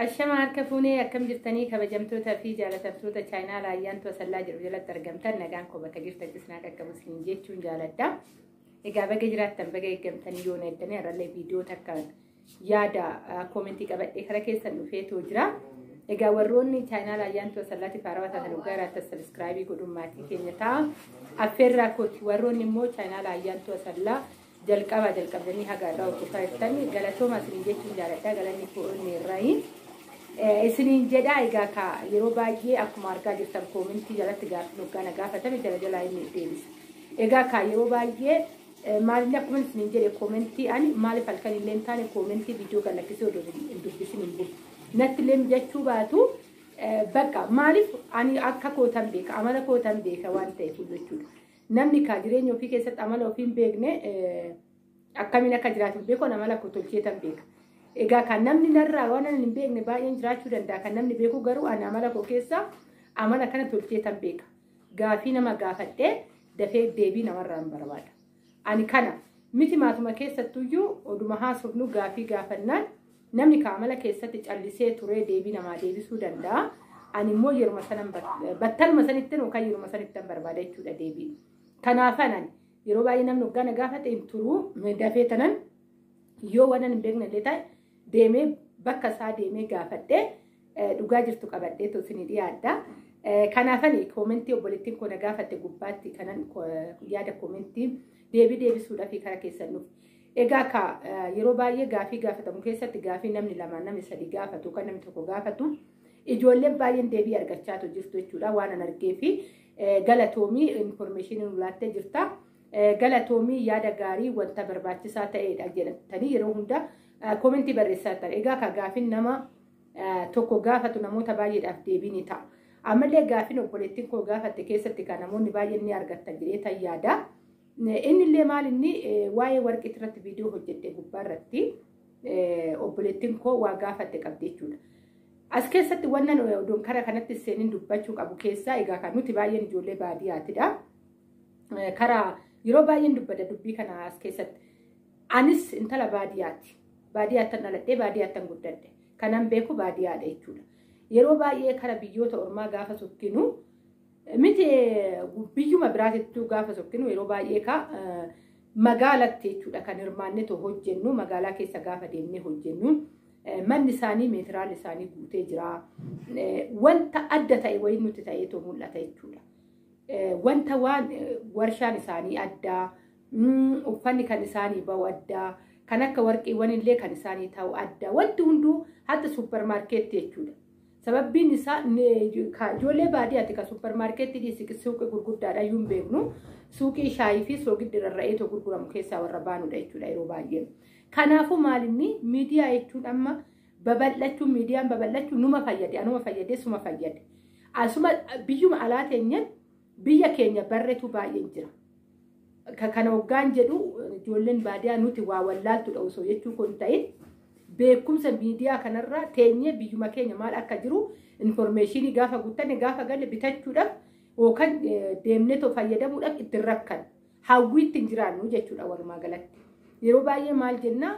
Ashama harka fuunee akkam jirtanii kabajamtoota fi jaalatamtoota chaayinaa raayyaan to'asallaa jedhu jalatti argamtan nagaan koo bakka jirtan cisnaa qaqqabu isin jechuun jaaladha. Egaa baga jiraattan baga eeggamtanii yoo neettanii har'allee viidiyoo takka yaada koomentii qabadhee kara keessan dhufeetu jira. Egaa warroonni chaayinaa raayyaan to'asallaatiif haarawaa taatan waggaa irratti sabiskiraayibii godhuun maatii keenya ta'a. Affeerraa kooti warroonni immoo chaayinaa raayyaan to'asallaa Jalqabaa jalqabdanii haga irraa hojjetaa jirtan galatooma isiniin jechuun jaaladha galanni koonni irraayi. Isiniin jedhaa egaa ka yeroo baay'ee akkuma argaa jirtan koomintii jalatti gaaffiin hoggaa na gaafatame jala jalaa inni deebisa. Egaa ka yeroo baay'ee maalin akkuma isiniin jedhe koomintii ani maaliif halkan illee hin taane koomintii viidiyoo kan lakkisee odoo hin dubbisin hin bulu. Natti illee mijachuu baatu bakka maaliif ani akka kootan beeka amala kootan beeka waan ta'eef jechuudha. Namni kaa jireenya ofii keessatti amala ofii hin beekne akkamiin akka jiraatu hin beeku amala koo tolcheetan beeka. Egaa kan namni narraa waan ani hin beekne baay'een jiraachuu danda'a. Kan namni beeku garuu ani amala koo keessaa amala kana tolcheetan beeka. Gaafii nama gaafadhee dafee deebii namarraa hin barbaada. Ani kana miti maatuma keessattuyyuu oduma haasofnu gaafii gaafannaan Namni ka amala keessatti callisee turee deebii namaa deebisuu danda'a. Ani immoo yeruma sanan bat- battaluma sanittin yookaan yeruma sanittan barbaada jechuudha deebii. Kanaafan ani yeroo baay'ee namni hoggaa na gaafate hin turuu dafee tanan yoo waan ani hin beekne illee ta'e deemee bakka isaa deemee gaafadhee eh, dhugaa jirtu qabadhee tu isinii dhiyaadha. Eh, Kanaafan koomentii obboleettiin koo na gaafatte gubbaatti kanan ko- yaada koomentii deebii deebisuudhaaf karaa keessan nuuf. Egaa ka yeroo baay'ee gaafii gaafatamu keessatti gaafii namni lama namni sadi gaafatu kan namni tokko gaafatu ijoollee baay'een deebii argachaatu jirtu jechuudha waan an argee fi galatoomii infoormeeshinii nu laattee jirta. Galatoomii yaada gaarii wanta barbaachisaa ta'edha jedhatanii yeroo hunda koomentii barreessaa ta'e. Egaa ka gaafiin nama tokko gaafatu namoota baay'eedhaaf deebii ni ta'a. Ammallee gaafiin obboleettiin koo gaafatte keessatti kan namoonni baay'een ni argatan jedhee tan yaada. Inni illee maal inni waa'ee warqii irratti viidiyoo hojjedhe gubbaa irratti obboleettiin koo waa gaafatte qabdi jechuudha. As keessatti wannan odoon kara kanatti seenin dubbachuu qabu keessaa egaa kan nuti baay'een ijoollee baadiyyaatidha. Kara yeroo baay'een dubbadha dubbii kana as keessatti. Anis intala baadiyyaati. Baadiyyaattan dhaladhee baadiyyaattan guddadhe. Kanan beeku baadiyyaadha jechuudha. Yeroo baay'ee kara biyyoota ormaa gaafa sokkinu Miti biyyuma biraatittuu gaafa sokkinu yeroo baay'ee ka magaalatti jechuudha kan hirmaannetu hojjennu magaalaa keessa gaafa deemnee hojjennu manni isaanii meetiraan isaanii guutee jira. Wanta adda ta'e wayii nutti ta'eetu mul'ata jechuudha. Wanta waan warshaan isaanii addaa uffanni kan isaanii ba'u addaa kan akka warqiiwwan illee kan isaanii ta'u addaa wanti hunduu hatta suupparmaarkeetti jechuudha. Sababbiin isaa ijoollee baadiyyaatti kan supparmaarkeetti dhiisii suuqii gurguddaadha iyyuu hin beeknu. Suuqii shaayii fi soogiddi rarra'ee too gurguramu keessaa warra baanudha jechuudha yeroo baay'ee. Kanaafuu maalinni miidiyaa jechuun amma babal'achuun miidiyaan babal'achuun numa fayyade anuma fayyadee suma fayyade. Asuma biyyuma alaa teenyeen Biyya keenya barretu baay'een jira. Ka- Kana hoggaan jedhu ijoolleen baadiyaa nuti waa wallaaltudha osoo jechuu kun ta'in beekumsa miidiyaa kanarraa teenyee biyyuma keenya maal akka jiru informeeshinii gaafa guuttanne gaafa galle bitachuudhaaf yookaan eh, deemnee too fayyadamuudhaaf ittiin rakkan hawwii ittiin jiraannu jechuudha walumaa galatti. Yeroo baay'ee maal jennaa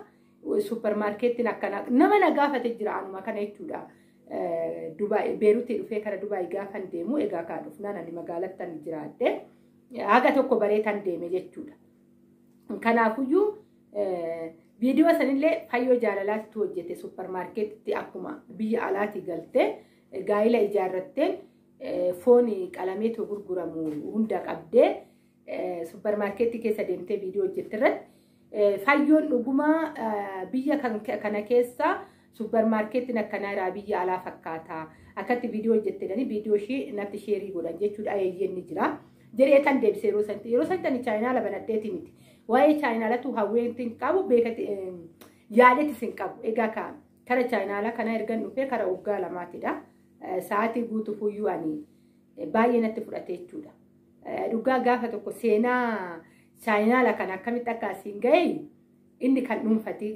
Suupparmaarkeettiin akkanaa nama na gaafate jira anuma kana jechuudha. Dubaay Beerutii dhufee kara Dubaay gaafan deemu egaa kaa dhufnaan ani magaalattan jiraadhe haga tokko bareetan deeme jechuudha. Kanaafuyyuu viidiyoo sanillee fayyoo jaalalaatti hojjete suupparmaarkeetitti akkuma biyya alaatti galte gaa'ila ijaarratteen foon qalameetu gurguramu hunda qabdee suupparmaarkeetti keessa deemtee viidiyoo hojjette irratti Fayyoon dhuguma biyya kana keessa suppermaarkeetiin akkanaa irraa biyya alaa fakkaata. Akkatti viidiyoo hojjettanii viidiyoo ishee natti sheerii godhan jechuudha eeyyeen ni jira. Jedhee tan deebise yeroo sanatti yeroo sanatti ani chaayinaala banadheeti miti. Waa'ee chaayinaalatu hawweetti hin qabu beekati yaadeetis hin qabu. Egaa ka kara chaayinaala kana ergan dhufee kara waggaa lamaatidha. Sa'aatii guutuuf iyyuu ani baay'ee natti fudhate jechuudha. Dhugaa gaafa tokko seenaa chaayinaala kan akkamitti akka asiin ga'e inni kan dhuunfati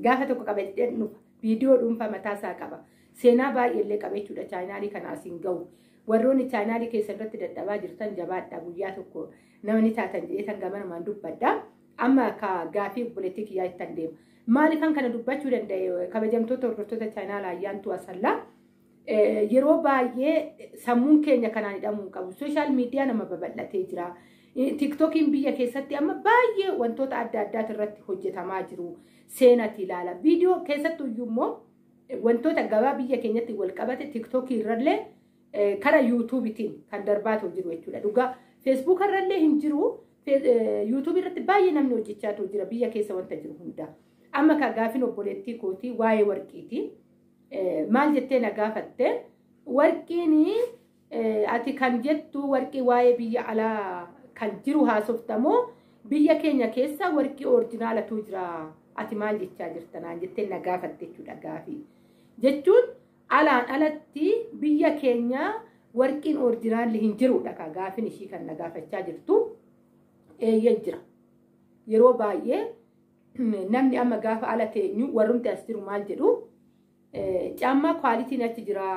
gaafa tokko qabadhee dhufa viidiyoo dhuunfaa mataa isaa qaba. Seenaa baay'ee illee qaba jechuudha chaayinaalii kana asiin ga'u. Warroonni chaayinaalii keessa irratti dadhabaa jirtan jabaadha guyyaa tokko namni taatan jedhee tan gamanumaan dubbadha. Amma akka gaafii obboleettii kiyyaa ittan deema. Maaliifan kana dubbachuu danda'e kabajamtoota hordoftoota chaayinaala ayyaantuu asallaa Yeroo baay'ee sammuun keenya kanaan hidhamuu hin qabu. Sooshaal miidiyaa nama babal'atee jira. Tiiktokiin biyya keessatti amma baay'ee wantoota adda addaati irratti hojjetamaa jiru. Seenati ilaala. Viidiyoo keessattuu iyyuu immoo wantoota gabaa biyya keenyatti wal qabate tiiktokii irrallee kara yuutuubitiin kan darbaatu jiru jechuudha. Dhugaa feesbuuka irrallee hin jiru. Yuutuubii irratti baay'ee namni hojjechaatu jira biyya keessa wanta jiru hunda. Amma kan gaafin obboleettii kootii waa'ee warqiiti. Maal jettee na gaafatte warqiin ati kan jettu warqii waa'ee biyya alaa kan jiru haasoftamoo biyya keenya keessa warqii oorjinaalatu jira ati maal jechaa jirta naan jettee na gaafatte jechuudha gaafii. Jechuun alaan alatti biyya keenya warqiin oorjinaalli hin jirudha kaa gaafin ishii kan na gaafachaa jirtu eeyyee jira. Yeroo baay'ee Namni amma gaafa ala teenyu warrumti as jiru maal jedhu caammaa kwaalitiin achi jira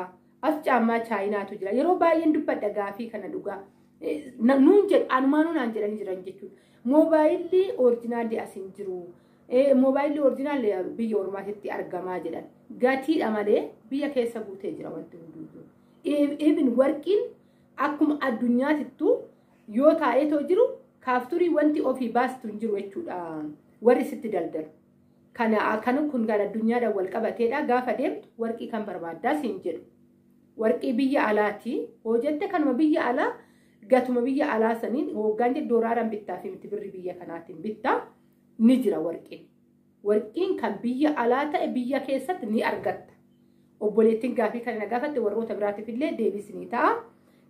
as caammaa chaayinaatu jira yeroo baay'een dubbadha gaafii kana dhugaa nuun jedhu anumaanuu naan jedhanii jiran jechuudha. Moobaayilli orijinaalli as hin jiru. Moobaayilli orijinaalli biyya ormaatitti argamaa jedhan. Gatiidha malee biyya keessa guutee jira wanti hunduu. Even warqiin akkuma addunyaatittu Yoo taa'eetoo jiru kaafturii wanti ofii baastu hin jiru jechuudha warri sitti daldalu. Kana kan kun kan addunyaadhaan wal qabateedha gaafa deemtu warqii kan barbaaddaa siin jedhu. Warqii biyya alaati hoo jette kanuma biyya alaa gatuma biyya alaa saniin hoggaan jedhu doolaaraan bittaa fi miti birri biyya kanaatiin bittaa ni jira warqiin. Warqiin kan biyya alaa ta'e biyya keessatti ni argatta. Obboleettiin gaafii kana na gaafatte warroota biraatiif illee deebisinii ta'a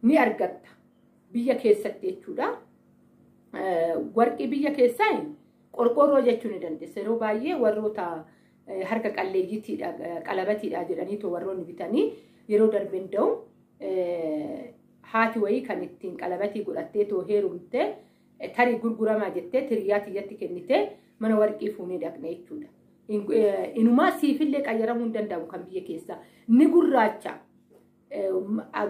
ni argatta. biyya keessatti jechuudha. Warqii biyya keessaa qorqoorroo jechuu ni dandeessa. Yeroo baay'ee warroota harka qalleeyyiitiidha qalabatiidha jedhaniitu warroonni bitanii yeroo darbe hunda'u haati wayii kan ittiin qalabatii godhattee too heerumte tarii gurguramaa jettee tiriyaa tiyyatti kennitee mana warqii fuunee dhaqne jechuudha. Inumaa siifillee qayyaramuu hin danda'amu kan biyya keessaa ni gurraacha.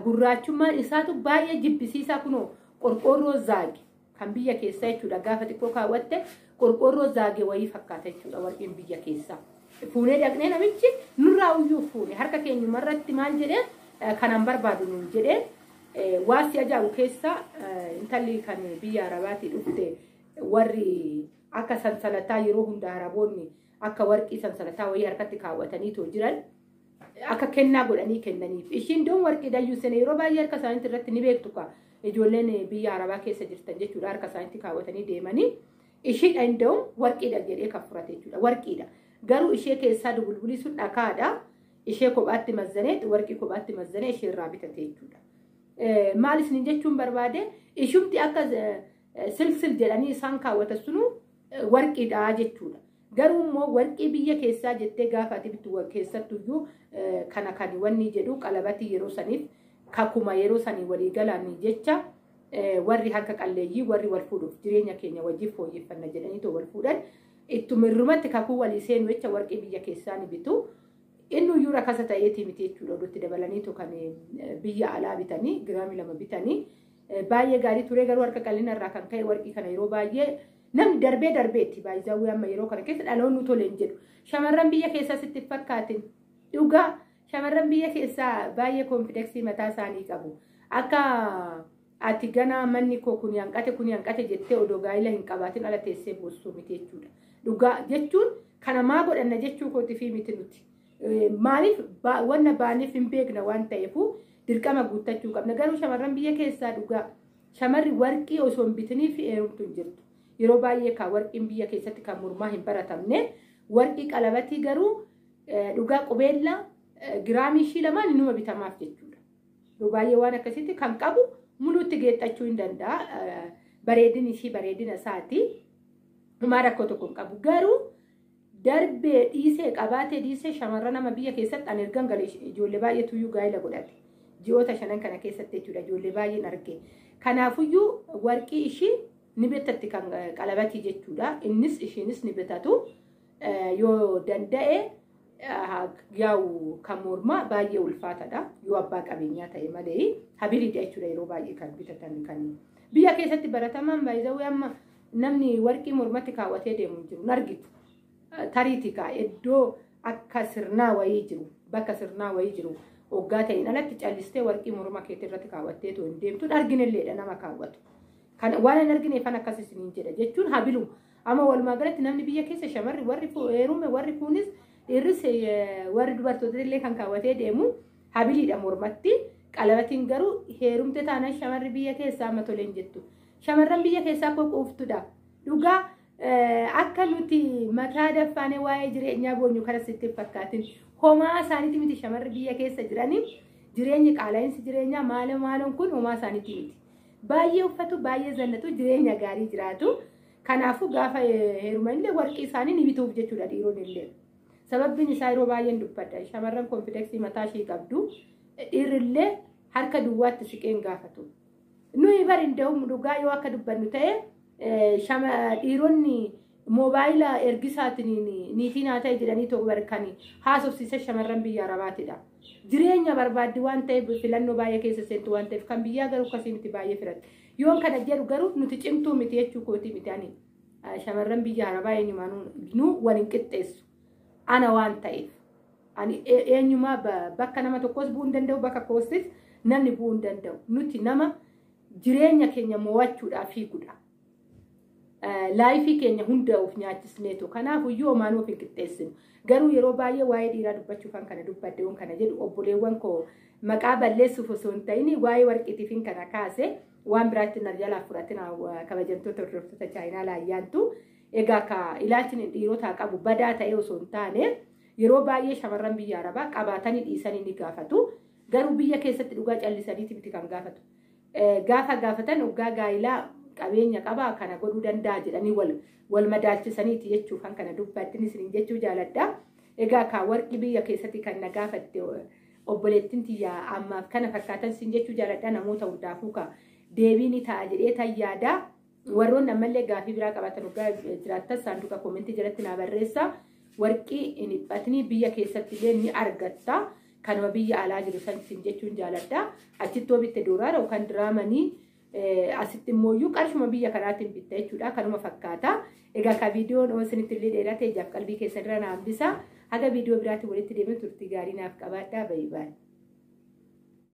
gurraachummaan isaatu baay'ee jibbisiisaa kunoo qorqoorroo zaage kan biyya keessaa jechuudha gaafa xiqqoo kaawwatte qorqoorroo zaage wayii fakkaata jechuudha warqeen biyya keessaa. Fuunee dhaqnee namichi nurraa uyyuu fuune harka keenyuma irratti maal jedhee kanan barbaadu nuun jedhee waan si ajaa'ibu keessaa intalli kan biyya arabaatii dhufte warri akka sansalataa yeroo hunda araboonni akka warqii sansalataa wayii harkatti kaawwatanii too jiran akka kennaa godhanii kennaniif. Ishiin doon warqii dayyuu sene yeroo baay'ee harka isaaniitti irratti ni beektu kaa ijoolleen biyya arabaa keessa jirtan jechuudha harka isaaniitti kaawwatanii deemanii ishiidha inda'u warqiidha jedhee kan furate jechuudha warqiidha. Garuu ishee keessaa dubulbulii sun dhakaadha ishee kophaatti mazzanee warqii kophaatti mazzanee ishee irraa bitate jechuudha. Maal isiniin jechuun barbaade ishumti akka silsil jedhanii isaan kaawwatan sunuu warqiidha jechuudha. Garuu immoo warqii biyya keessaa jettee gaafa ati bittu keessattuyyuu kana kan wanni jedhu qalabatii yeroo saniif kakuma yeroo sanii walii galaan jecha warri harka qalleeyyii warri wal fuudhuuf jireenya keenya wajjin fooyyeffanna jedhanii too wal fuudhan ittuma irrumatti kakuu walii seenu jecha warqii biyya keessaa ni bitu. Inni iyyuu rakasa ta'eetii miti jechuudha oduutti dabalanii too kan biyya alaa bitanii giraamii lama bitanii. Baay'ee gaarii turee garuu harka qal'ina irraa kan ka'e warqii kana yeroo baay'ee namni darbee darbee itti baay'isaawwee amma yeroo kana keessa dhaloonni tole hin jedhu. Shamarran biyya keessaa sitti fakkaatin dhugaa shamarran biyya keessaa baay'ee koonfideksii mataa isaanii qabu. Akka ati ganaa manni koo kun hanqate kun hanqate jettee odoo gaa'ila hin qabaatin ala teessee boostuu miti jechuudha. Dhugaa jechuun kana maa godhanna jechuu kootiif miti nuti. Maaliif wanna baaniif hin beekna waan ta'eefuu dirqama guuttachuu qabna. Garuu shamarran biyya keessaa dhugaa shamarri warqii osoo hin bitinii fi heerumtu hin jirtu. Yeroo baay'ee kaa warqiin biyya keessatti kan mormaa hin baratamne warqii qalabatii garuu dhugaa qubeellaa giraamii ishii lamaan inuma bitamaaf jechuudha. Yeroo baay'ee waan akkasitti kan qabu muluutti geexxachuu hin danda'a. Bareedin ishii bareedina isaati. Dhumaa rakkoo tokko hin qabu. Garuu darbee dhiisee qabaatee dhiisee shamarran nama biyya keessatti an ergan gale ijoollee baay'eetuyyuu gaa'ila godhate ji'oota shanan kana keessatti jechuudha ijoollee baay'een arge kanaafuyyuu warqii ishii ni bitatti kan qalabatii jechuudha innis ishiinis ni bitatu yoo danda'e yaa'u kan mormaa baay'ee ulfaatadha yoo abbaa qabeenyaa ta'e malee habiliidha jechuudha yeroo baay'ee kan bitatan kan biyya keessatti baratamaan baay'ee amma Namni warqii mormatti kaawwatee deemu hin jiru. Nargitu. Tariiti kaa iddoo akka sirnaa wayii jiru. Bakka sirnaa wayii jiru. Oggaa ta'in alatti callistee warqii morma keetii irratti kaawwattee too hin deemtu. Hin arginelleedha nama kaawwatu. Kan waan hin argineefan akkas isiniin jedha jechuun habilu. Amma walumaa galatti namni biyya keessa shamarri warri heerume warri kuunis dhiirris warri dubartoota illee kan kaawwatee deemu habiliidha mormatti. Qalabatiin garuu heerumte taanaan shamarri biyya keessaa amma toleen jettu. Shamarran biyya keessaa koo quuftudha. Dhugaa akka nuti mataa daffaanee waa'ee jireenyaa boonyu kana sitti hin fakkaatin. Homaa isaaniiti miti shamarri biyya keessa jiranii jireenyi qaala'insi jireenyaa maala maaloon kun homaa isaaniiti miti. Baay'ee uffatu, baay'ee zannatu, jireenya gaarii jiraatu. Kanaafuu gaafa heeruman illee warqii isaanii ni bituuf jechuudha dhiiroon illee. Sababbiin isaa yeroo baay'een dubbadha. Shamarran konfideksii mataa ishii qabdu. Dhiirri illee harka duwwaatti siqeen gaafatu. Nuyi bari hunda'uun dhugaa yoo akka dubbannu ta'e shama dhiironni moobaayila ergisaatiin niitii naa ta'e jedhanii tokko barkan haasofsiisa shamarran biyya arabaatidha. Jireenya barbaaddi waan ta'eef filannoo baay'ee keessa seentu waan ta'eef kan biyyaa garuu akkasii miti baay'ee firatti. Yoon kana jedhu garuu nuti cimtuu miti jechuu kootii miti ani shamarran biyya arabaa eenyumaanuu nu wal hin qixxeessu ana waan ta'eef. Ani eenyumaa bakka nama tokkos bu'uu hin danda'u bakka koostis namni bu'uu hin danda'u. Nuti nama jireenya keenya mo'achuudhaaf fiigudha. Laayifii keenya hunda of nyaachisneetu. Kanaafuu yoo maanuu of hin qixxeessinu. Garuu yeroo baay'ee waa'ee dhiiraa dubbachuuf kan kana dubbadde waan kana jedhu obboleewwan koo maqaa balleessuuf osoo hin ta'in waa'ee warqiitiif hin kana kaase waan biraatti na jalaa fudhatina kabajamtoota hordoftoota chaayinaa laayyaantu. Egaa ka ilaalchni dhiirotaa qabu badaa ta'ee osoo hin taane Yeroo baay'ee shamarran biyya Arabaa qabaatani dhiisani ni gaafatu. Garuu biyya keessatti dhugaa callisaniiti miti kan gaafatu. Gaafa gaafatan oggaa gaa'ilaa qabeenya qaba kana godhuu danda'a jedhanii wal wal madaalchisaniiti jechuuf kan kana dubbattinis isiniin jechuu jaaladha. Egaa kaa warqii biyya keessatti kan na gaafatte obboleettiin tiyya ammaaf kana fakkaatan siin jechuu jaaladha namoota hundaafuu kaa deebii ni ta'a jedhee tan yaadaa. Warroonni ammallee gaafii biraa qabaatan hoggaa jiraattan saanduqa koomentii jalatti naa barreessaa. Warqii hin dhiphatnii biyya keessatti illee ni argatta. Kanuma biyya alaa jiru san isin jechuun jaaladha. Achitti yoo bitte doolaara yookaan diraamanii asitti immoo iyyuu qarshuma biyya kanaatiin bitta jechuudha. Kanuma fakkaata. Egaa ka viidiyoon yoo isinitti illee dheerate ijaaf qalbii keessan irra na hambisa. Haga viidiyoo biraatiin walitti deebiin turtii gaarii naaf qabaadhaa. Bayi bayi.